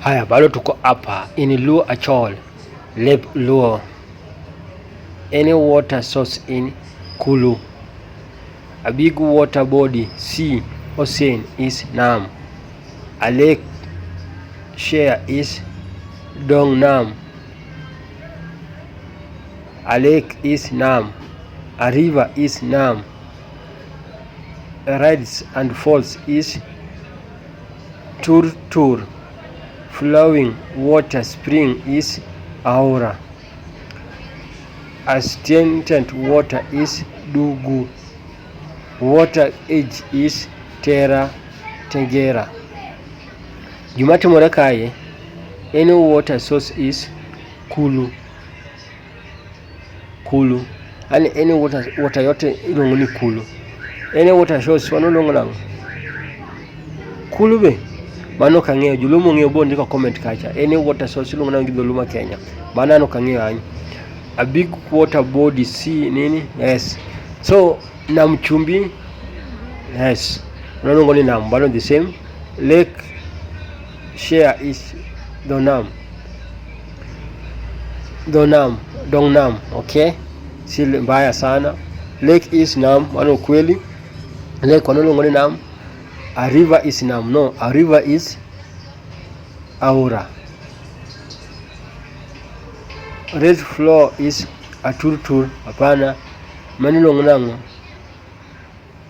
Haya, bado tuko hapa in Luo Achol, Lep Luo, any water source in Kulu, a big water body sea ocean is Nam, a lake share is Dong Nam, a lake is Nam, a river is Nam, a rides and falls is Tur Tur flowing water spring is Aura. Astringent water is Dugu. Water age is Terra Tegera. Gima timore kae, any water source is Kulu. Kulu. Yaani any water, water yote ilongo ni kulu. Any water shows wano longo nango. Kulu be. Mano kang'eyo jolumo ng'eyo bo ndiko comment kacha. Any water source ilongo nango gi jolumo Kenya. Mano ano kang'eyo anyo. A big water body sea nini? Yes. So Nam Chumbi. Yes. Wano longo ni Nam. Mano the same. Lake share is the Nam. Donam, Dongnam, okay? Si mbaya sana. Lake is Nam, mano kweli. Lake wanalongo ni Nam. A river is Nam, no. A river is Aura. Red floor is Aturtur, hapana. Manilongo nango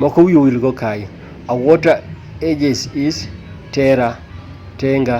Moko wiye owil go kae. A water ages is terror, tenga,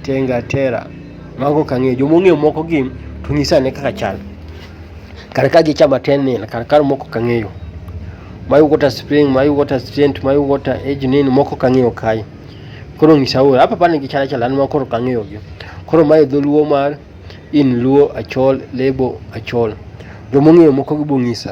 tenga, terror. Mago ok ang'eyo. Joma ong'eyo moko gi to nyisa ane kaka chal. Kar ka gichama ten nil, kar kar moko ok ang'eyo. My water spring, my water strength, my water age nini moko ok ang'eyo kae. Koro nyisa ora. Hapa pane gichal achal an ma koro ok ang'eyo gi. Koro mae dholuo mar in luo achol lebo achol. Joma ong'eyo moko gi bong'isa.